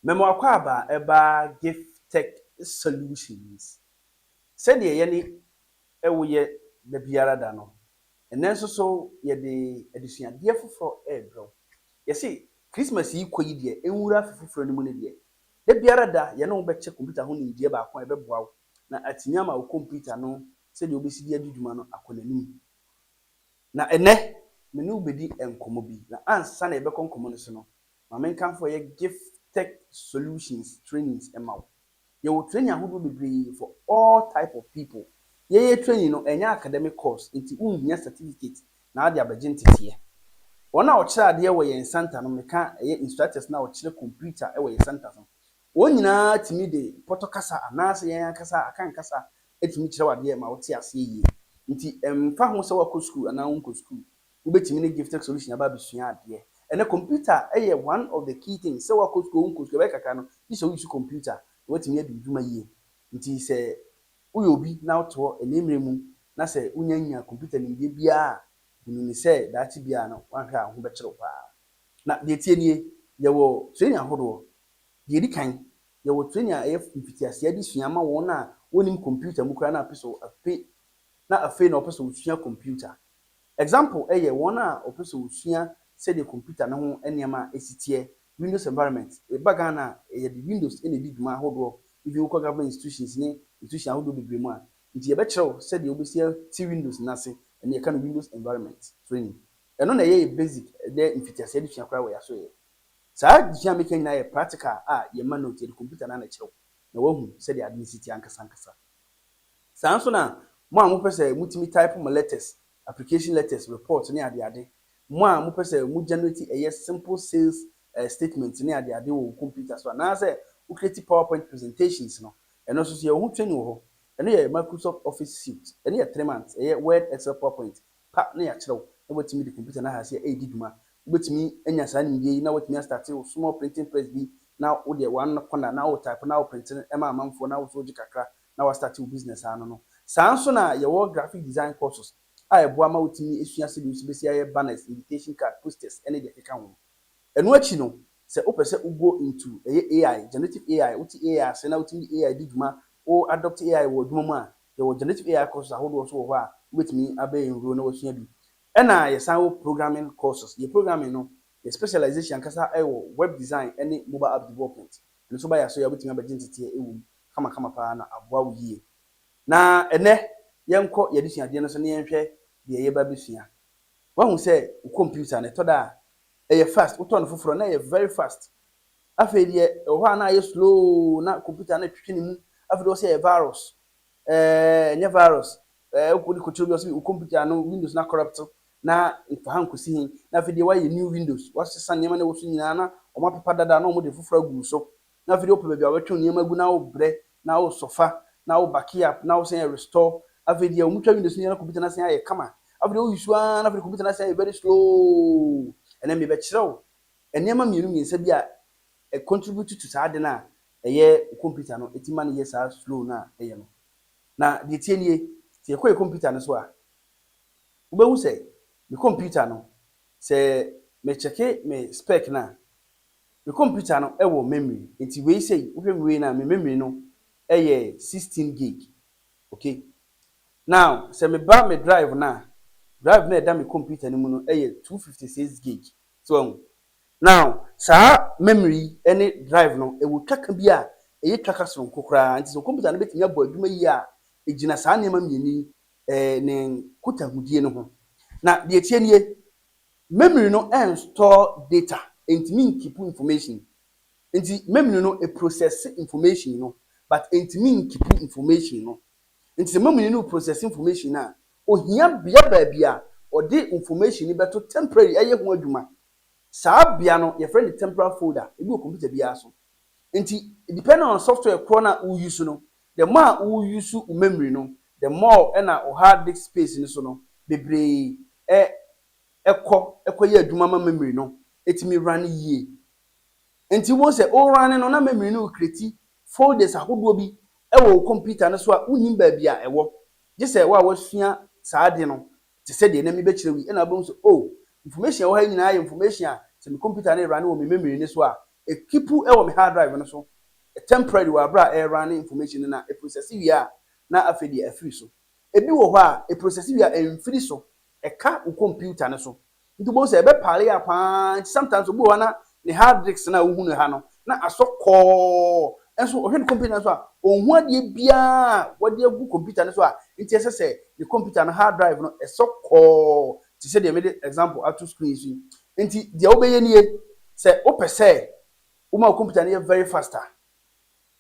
Me mo akwaaba ɛbaa Giftek solutions sɛdeɛ yɛne wo yɛ da biara da no ɛnɛ nso so yɛde adesuadeɛ foforɔ rebrɛ wo yɛse Christmas yi kɔ yi deɛ nwura afe foforɔ no mu no deɛ da biara da yɛne wo bɛkyɛ computer ho nimdeɛ baako a ɛbɛboa wo na atumi ama wo computer no sɛdeɛ wobɛsi de adi dwuma no akɔ n'anim. Na ɛnnɛ, me ne wo bɛdi nkɔmmɔ bi. Na ansa na yɛbɛkɔ nkɔmmɔ no so no, ma menkamfo ɛyɛ Gift Tech Solutions trainings mma wo. Yɛwɔ training ahodoɔ bebree for all type of people. Yɛn yɛn training no, ɛnyɛ academic course, nti wonhia certificate na wode abɛgye nteteɛ. Wɔn a wɔkyerɛ adeɛ wɔ yɛn center no, meka ɛyɛ instructors no a wɔkyerɛ computer wɔ yɛn centers no, wɔn nyinaa tumi de pɔtɔ kasa anaasɛ yɛn ankasa Akan kasa tumi kyerɛ wo adeɛ ma wote aseɛ yie. Nti ɛmfa ho sɛ woakɔ sukuu anaa wonkɔ sukuu, wobɛtumi ne Gifttech Solution aba abɛsua adeɛ. Ɛnnɛ computer yɛ one of the key things, sɛ woakɔ sukuu oo wonkɔ sukuu ɛbɛyɛ kakra no, gye sɛ wouse computer na woatumi adi wo dwuma yie. Nti sɛ woyɛ obi na wote hɔ ɛnnɛ mmerɛ mu na sɛ wonnya nnya computer nimdeɛ biara a, hu no ni sɛ daakye biara no woanhwɛ a wo ho bɛkyere wo paa. Na deɛ ɛteɛ nie, yɛwɔ training ahodoɔ. Deɛ ɛdi kan, yɛwɔ training a ɛyɛ mfitiaseɛ adesua ma wɔn a wɔnnim computer mu koraa na apɛ sɛ ɔpe na afei na ɔpɛ sɛ ɔsua computer. Example ɛyɛ wɔn a ɔpɛ sɛ ɔsua sɛdeɛ computer no ho nneɛma ɛsi teɛ, Windows environment, ɛba Ghana a yɛde Windows na ɛdi dwuma ahodoɔ, even wokɔ government institutions ne institution ahodoɔ bebree mu a, nti yɛbɛkyerɛ wo sɛdeɛ wobɛsi ate Windows no ase, ɛno yɛka no Windows environment training. Ɛno na ɛyɛ yɛ basic ɛyɛ mfitiaseɛ adesua koraa wɔ yɛasoɛeɛ. Saa adesua a meka nyinaa yɛ practical a yɛmma note, yɛde computer no ara na ɛkyerɛw na woahu sɛdeɛ ade no si teɛ ankasa ankasa. Saa ara nso na mo a mopɛ sɛ motumi type mo letters, application letters, reports ne ade ade, mo a mopɛ sɛ mo generate ɛyɛ simple sales eh, statements ne ade ade wɔ wo computer so anaasɛ wo create powerpoint presentations no, ɛno nso so yɛwɔ ho training wɔ hɔ. Ɛno yɛ Microsoft Office Suite, ɛno yɛ three months, ɛyɛ Word, Excel, PowerPoint pa na yɛakyerɛ wo na woatumi de computer no ahase a ɛredi dwuma. Wobɛtumi anya saa nimdeɛ yi na woatumi astarte wo small printing press bi na wo deɛ one corner na wo type na wo printe no ma amanfoɔ na wo nso wogye kakra na woastarte wo business ano no. Saa nso na yɛwɔ graphic design courses a ɛboa ma wotumi sua sɛdeɛ wosi bɛsi ayɛ banners, invitation card, posters ne deɛ ɛkeka ho. Ɛno akyi no sɛ wopɛ sɛ wo go into ɛyɛ AI, generative AI, wote AI ase na wotumi de AI di dwuma, wo adopte AI wɔ adwuma mu a, Yɛwɔ Generative AI courses ahodoɔ nso wɔ hɔ a wobɛtumi abɛ enroll na wasua bi. Ɛna yɛsan wɔ Programming courses. Yɛ Programming no, yɛ specialization ankasa wɔ Web design ne Mobile App development. Ɛno nso ba yɛ aso yi a wobɛtumi abɛgye nteteɛ wɔ mu kamakama paa na aboa wo yie. Na ɛnɛ yɛnkɔ yɛ adesuadeɛ no so na yɛnhwɛ deɛ yɛba abɛsua. Wahu sɛ wo computer no ɛtɔ da a ɛyɛ fast, wotɔ no foforɔ na ɛyɛ very fast. Afei deɛ ɛwɔ hɔ a na ayɛ slow na computer no retwetwe ne mu afei deɛ ɔsɛ ɛyɛ virus ɛɛ ɛnyɛ virus ɛɛ wokɔ de kɔkyerɛ obi ɔsɛ wo computer no windows na corrupt na nfa ha nkɔsi he na afei deɛ wayɛ new windows wasesa nneɛma na ɛwɔ so nyinaa na wɔn apepa dada na wɔn de foforɔ agu so na afei deɛ wopɛ baabi a wɔbɛtwe nneɛma agu na wobrɛ na wosɔfa na wo back up na wosan yɛ restore afei deɛ wɔn twa windows no nyinaa na computer no asan ayɛ kama afei deɛ woyi so ara na afei deɛ computer no asan ayɛ very slow ɛnɛ mebɛkyerɛ wo Nneɛma mmienu mmiɛnsa bi a ɛ contribute to saa ade no a ɛyɛ wo computer no ɛtumi ma no yɛ saa slow no a ɛyɛ no. Na deɛ ɛteɛ nie, sɛ yɛkɔ yɛ computer no so a, wobɛhu sɛ me computer no, sɛ me check me spec no a, me computer no wɔ memory. Nti wei sei, wohwɛ me wei no a, me memory no yɛ 16 gig. Okay. Now, sɛ meba me drive no a, drive no a ɛda me computer no mu no yɛ 256 gig. So wahu? Now, saa memory yi ne drive no, ɛwɔ twaka bi a ɛyɛ twaka soronko koraa. Nti sɛ computer no bɛtumi abɔ adwuma yie a, ɛgyina saa nneɛma mmienu yi, ɛɛ, ne nkutahodie no ho. Na deɛ ɛteɛ nie, memory no ɛnstore data, ɛntumi nkipu information. Nti memory no ɛprocess information no, but ɛntumi nkipu information no. Enti sɛ mamuni no reprocess information no a, ohia bea baabi a ɔde information no bɛto temporary ɛyɛ ho adwuma. Saa bea no, yɛfrɛ no temporal folder. Ebi wɔ computer biara so. Enti, depending on software korɔ no a wo use no, the more a wo use wo memory no, the more na wo hard disk space no so no, bebree ɛ, ɛkɔ, ɛkɔyɛ adwuma ma memory no tumi run yie. Enti wobɛhu sɛ worane no na memory no rekreti folders ahodoɔ bi wɔ wo kɔmputa no so a wonnim baabi a ɛwɔ. Gye sɛ wo a woasua saa ade no te sɛ deɛ na mebɛkyerɛw yi na wobɛhu sɛ oh, information a ɛwɔ ha yi nyinaa yɛ information a sɛ me kɔmputa no rerane wɔ me memory no so a, ɛkipu wɔ me hard drive no so temporarily wɔ aberɛ a ɛrerane information no na ɛprosɛse wie a na afei deɛ afiri so. Ɛbi wɔ hɔ a ɛprosɛse wie a ɛmfiri so, ɛka wo kɔmputa no so. Nti wobɛhu sɛ ɛbɛ pare a paa nti sometimes obi wɔ hɔ a na ne hard disks no a wohu no ha no na asɔ kɔɔ nso ɔhwɛ ne computer no so a ɔnhu adeɛ biara a wɔde agu computer no so a nti ɛsɛ sɛ ne computer no hard drive no ɛsɔ kɔɔ te sɛ deɛ mede example ato screen so yi. Nti deɛ wobɛyɛ nie sɛ wopɛ sɛ woma wo computer no yɛ very fast a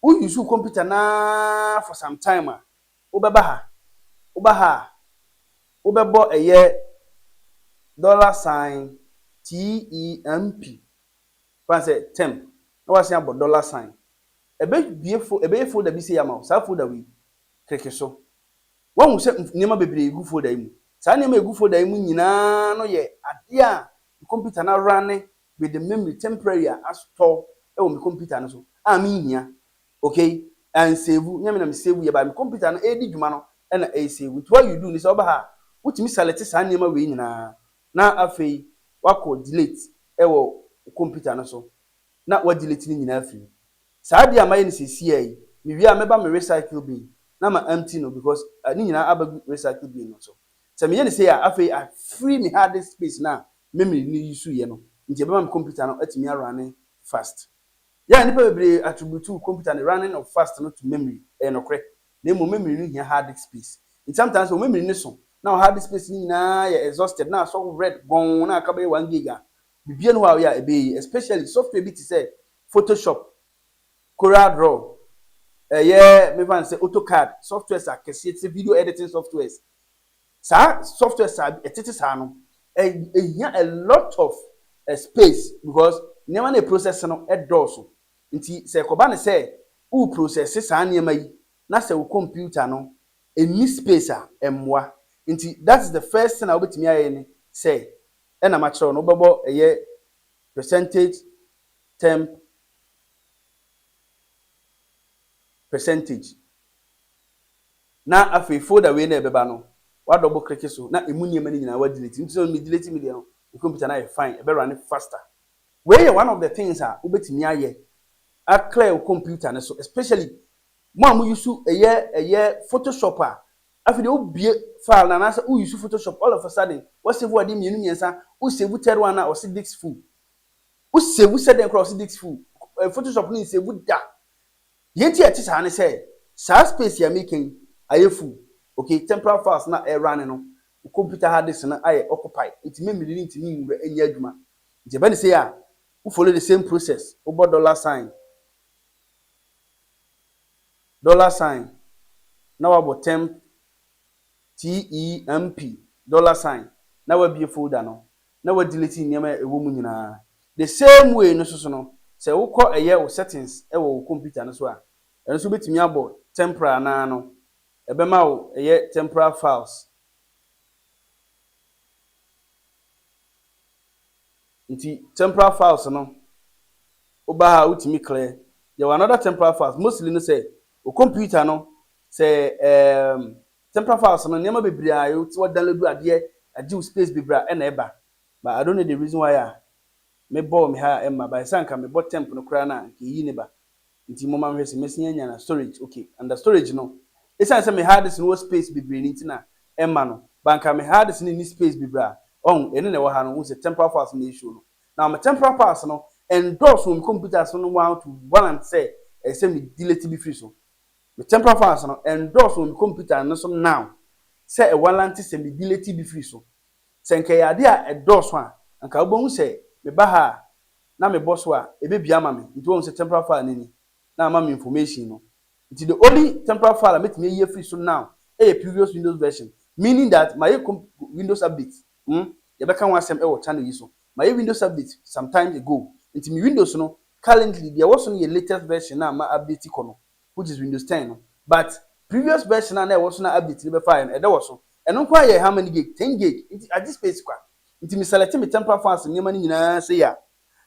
wo use wo computer no ara for some time a Wobɛba ha? Woba ha a, wobɛbɔ ɛyɛ dollar sign TEMP, fan sɛ temp, na woasan abɔ dollar sign. Ɛbɛbue fo, ɛbɛyɛ folder bi sei ama wo, saa folder wei, kleke so. Woahu sɛ nneɛma bebree gu folder yi mu. Saa nneɛma a ɛgu folder yi mu nyinaa no yɛ adeɛ a me computer no arane with the memory temporary a asotɔ wɔ me computer no so a menhia. Okay and save nyɛ me na me save yɛ but me computer no ɛredi dwuma no ɛna ɛre save nti what you do ne sɛ woba ha a wotumi select saa nneɛma wei nyinaa na afei wakɔ delete ɛwɔ wo computer no so na wa delete ne nyinaa afiri mu. Saa adeɛ a mayɛ no seesei yi me wie a mɛba me recycle bin na ma empty no because ne nyinaa aba gu recycle bin no so sɛ meyɛ no sei a afei a free me hard disk space no a memory no use yɛ no nti ɛbɛma me computer no atumi a runne fast Yɛn a nnipa bebree attributew kɔmputa ne running of fast no to memory, ɛyɛ nokorɛ, na mmom memory no hia hard disk space. Nti sometimes sɛ wo memory no so na wo hard disk space no nyinaa yɛ exhausted na asɔ red gɔnn na aka bɛyɛ one gig a, biribiara nni hɔ a woyɛ a ɛbɛyɛ yie, especially software bi te sɛ Photoshop, Corel Draw, ɛyɛ memfa no sɛ AutoCAD, softwares akɛseɛ te sɛ video editing softwares Saa softwares a ɛtete saa no, ehia a lot of space because nneɛma no a ɛprosɛse no dɔɔso. Nti sɛ ɛkɔba no sɛ woreprosɛse saa nneɛma yi na sɛ wo kɔmputa no nni space a, ɛmmoa. Nti that is the first thing a wobɛtumi ayɛ ne sɛ, ɛna makyerɛ wo no, wobɛbɔ ɛyɛ percentage temp percentage. Na afei folder wei no a ɛbɛba no wa double click so na ɛmu nneɛma no nyinaa wa delete no, nti sɛ me delete me deɛ no me computer no ayɛ fine, ɛbɛ runne faster. Wei yɛ one of the things a wobɛtumi ayɛ a clear wo computer no so especially mo a mo use ɛyɛ ɛyɛ photoshop a afei deɛ wo bue file no anaasɛ wo use photoshop all of a sudden wa save adeɛ mmienu mmiɛnsa wo save third one a ɔse disk full wo save sɛ dɛn koraa ɔse disk full photoshop no nsave da Deɛ nti a ɛte saa ne sɛ, saa space a mereka yi ayɛ full, ok, temporal files no a ɛyɛ running no, wo computer hard disk no ayɛ occupy, nti memory no ntumi nwura nyɛ adwuma. Nti ɛba no sei a, wo follow the same process, wobɔ dollar sign, dollar sign, na wabɔ temp, T-E-M-P, dollar sign, na wabue folder no, na wa delete nneɛma a ɛwɔ mu nyinaa. The same way no soso no, sɛ wo kɔ ɛyɛ wo settings wɔ wo computer no so a, ɛno nso wobɛtumi abɔ temporal anaa no ɛbɛma wo ɛyɛ temporal files. Nti temporal files no wo ba ha a wotumi clear. Yɛwɔ another temporal files, mostly no sɛ wo computer no sɛ ɛɛm Central files no nneɛma bebree a wo tse download adeɛ agye wo space bebree a ɛna ɛba but I don't know the reason why a me bɔɔ me ha a ɛmma but sɛ anka me bɔ temp no koraa no a anka eyi ne ba nti momma me hwɛ sɛ mɛsin anya na storage ok under storage no ɛsiane sɛ me hard disk no wɔ space bebree no nti na ɛmma no but anka me hard disk no nni space bebree a wahu ɛno na ɛwɔ ha no wohu sɛ temporal files no na ɛreshow no now me temporal files no ɛndɔɔso wɔ me computer so no one to one sɛ ɛsɛ sɛ me delete bi firi so. Me temporal files no ɛndɔɔso wɔ me kɔmputa no so now sɛ ɛwalante sɛ me delete bi firi so. Sɛ nka ɛyɛ adeɛ a ɛdɔɔso a, anka wobɛhu sɛ me ba ha a na me bɔ so a ɛbɛbue ama me nti woahu sɛ temporal file no ni na ama me information no. Nti the only temporal file a mɛtumi ayi afiri so now yɛ previous Windows version meaning that mayɛ comp Windows update hmm yɛbɛka ho asɛm wɔ channel yi so mayɛ Windows update sometimes ago nti me Windows no currently deɛ ɛwɔ so no yɛ latest version no a ma update kɔ no which is Windows ten no but previous version a na ɛwɔ so na update no bɛfaeɛ no ɛdɛ wɔ so. Ɛno nko ara yɛ how many gig? Ten gig nti agye space kwa. Nti me select me temper files nneɛma no nyinaa sei a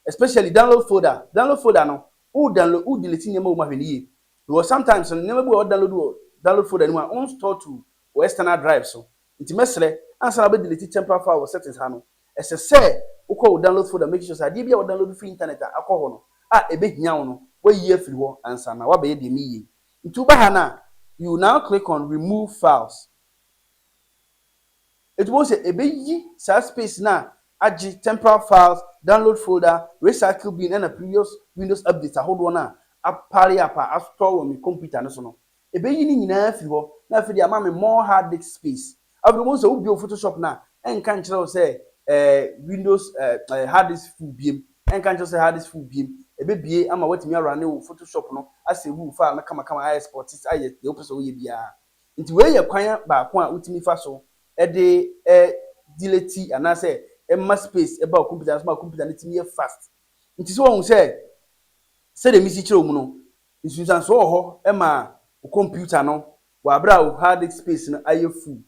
especially download folder, download folder no wo download wo delete nneɛma wɔ mu ahwɛ no yie because sometimes no nneɛma bi wɔ hɔ a wo download wɔ download folder no mu a wo nstore to wo external drive so nti mɛsrɛ ansa na wobɛ delete temper file wɔ settings ha no Ɛsɛ sɛ wokɔ wo download folder make sure sɛ adeɛ biara a wodownload firi intanɛt a akɔ hɔ no a ɛbɛhia wo no woayi afiri hɔ ansa na woabɛyɛ deɛ meyi yei. Nti woba ha no a you will now click on remove files. Nti wobɛhu sɛ ɛbɛyi saa space no a agye temporal files, download folder, recycle bin ɛna previous windows updates ahodoɔ no a apare apa astore wɔ me computer no so no Ɛbɛyi ne nyinaa afiri hɔ. Na afei deɛ ama me more hard disk space. Afei wobɛhu sɛ wobio photoshop no a, ɛnka nkyerɛ wo sɛ eh, windows eh, eh, hard disk full biem. Ɛnka nkyerɛ wo sɛ hard disk full biem. Ɛbɛbie ama woatumi arane wo photoshop no, asave wo file no kamakama, a export it, ayɛ deɛ wopɛ sɛ woyɛ biara. Nti wei yɛ kwan baako a wotumi fa so de eh, delete anaasɛ ɛma space ba wo computer no so ma computer no tumi yɛ fast. Nti sɛ woahu sɛ sɛdeɛ mesi kyerɛ wo mu no, Nsunsuansoɔ wɔ hɔ ma wo computer no wɔ aberɛ a wo hard disk space no ayɛ full.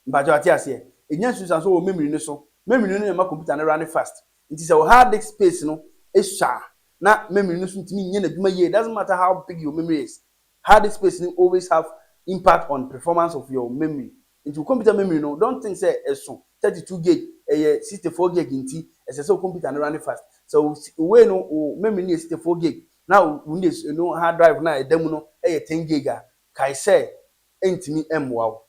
Mpakyɛw wate aseɛ? Ɛnya nsunsuansoɔ wɔ memory no so. Memory no na ɛma computer no runne fast. Nti sɛ wo hard disk space no sua a na memory no nso ntumi nyɛ n'adwuma yie. It doesn't matter how big your memory is, hard disk space no always have impact on performance of your memory. Nti wo computer memory no don't think sɛ ɛso thirty two gig, ɛyɛ sixty four gig nti ɛsɛ sɛ wo computer no runne fast. Sɛ wo wei no wo memory no yɛ sixty four gig na wo ne no hard drive no a ɛda mu no yɛ ten gig a, kae sɛ ɛrentumi mmoa wo.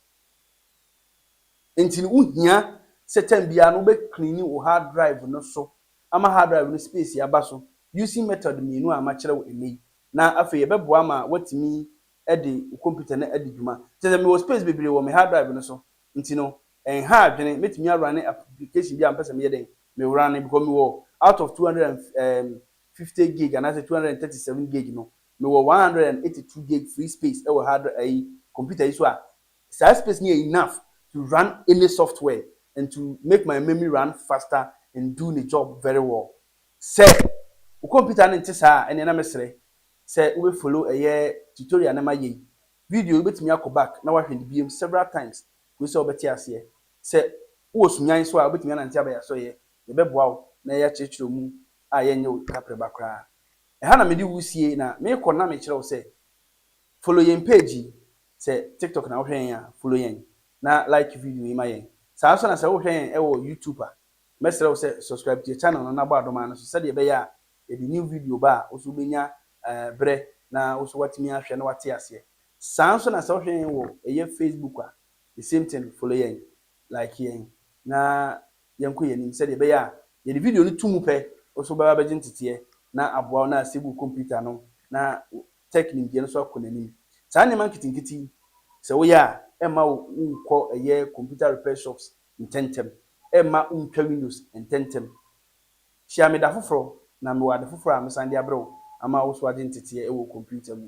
Enti no, wuhia sɛ tɛm biara no wobɛ cleani wo hard drive no so ama hard drive no space aba so using method mmienu a makyerɛ wo nnɛ yi, na afei ɛbɛboa ma woatumi de wo computer no adi dwuma. Kyerɛ sɛ, mewɔ space bebree wɔ me hard drive no so, enti no, ɛnha adwene, mɛtumi a runne application biara a mepɛ sɛ meyɛ dɛn? Me runne, because mewɔ out of two hundred and fifty gig anaasɛ two hundred and thirty seven gig no, mewɔ one hundred and eighty two gig free space wɔ hard dri ayi computer yi so a, saa space no yɛ enough to run any software and to make my memi run faster and do ne job very well. Sɛ wo computer no nte saa a, ɛneɛ na mɛsrɛ sɛ wo bɛ follow ɛyɛ tutorial no ma yɛ yi, video yi wo bɛtumi akɔ back na wahwɛ no biom several times kosi sɛ wo bɛte aseɛ. Sɛ wo wɔ Sunyani so a, wo bɛtumi anante aba yɛ asɔeɛ, yɛ bɛboa wo na yɛ akyerɛkyerɛ wo mu a yɛnyɛ wo kaprɛba koraa. Ɛha na mede wo sie na mekɔ na mekyerɛ wo sɛ follow yɛn page yi. Sɛ TikTok na wohwɛ yɛn a, follow yɛn na like video yi ma yɛn. Saa ara nso na sɛ wohwɛ yɛn wɔ YouTube a, mɛsrɛ wo sɛ subscribe to yɛn channel no na bɔ adoma no so sɛdeɛ ɛbɛyɛ a yɛde new video ba a, wo nso wobɛnya berɛ na wo nso woatumi ahwɛ na woate aseɛ. Saa ara nso na sɛ wohwɛ yɛn wɔ ɛyɛ Facebook a, the same thing, follow yɛn, like yɛn na yɛnkɔ yɛn anim sɛdeɛ ɛbɛyɛ a yɛde video no to mu pɛ wo nso wobɛba abɛgye nteteɛ na aboa wo na asɛe wo kɔmputa no na wo tech nimdeɛ no nso akɔ n'anim. Saa nneɛma nketenkete yi sɛ woyɛ a ɛmma wo wonkɔ ɛyɛ computer repair shops ntɛntɛm, ɛmma wontwa windows ntɛntɛm. Hyia me da foforɔ na mewɔ ade foforɔ a mɛsan de abrɛ wo ama wo nso woagye nteteɛ wɔ wo kɔmputa mu.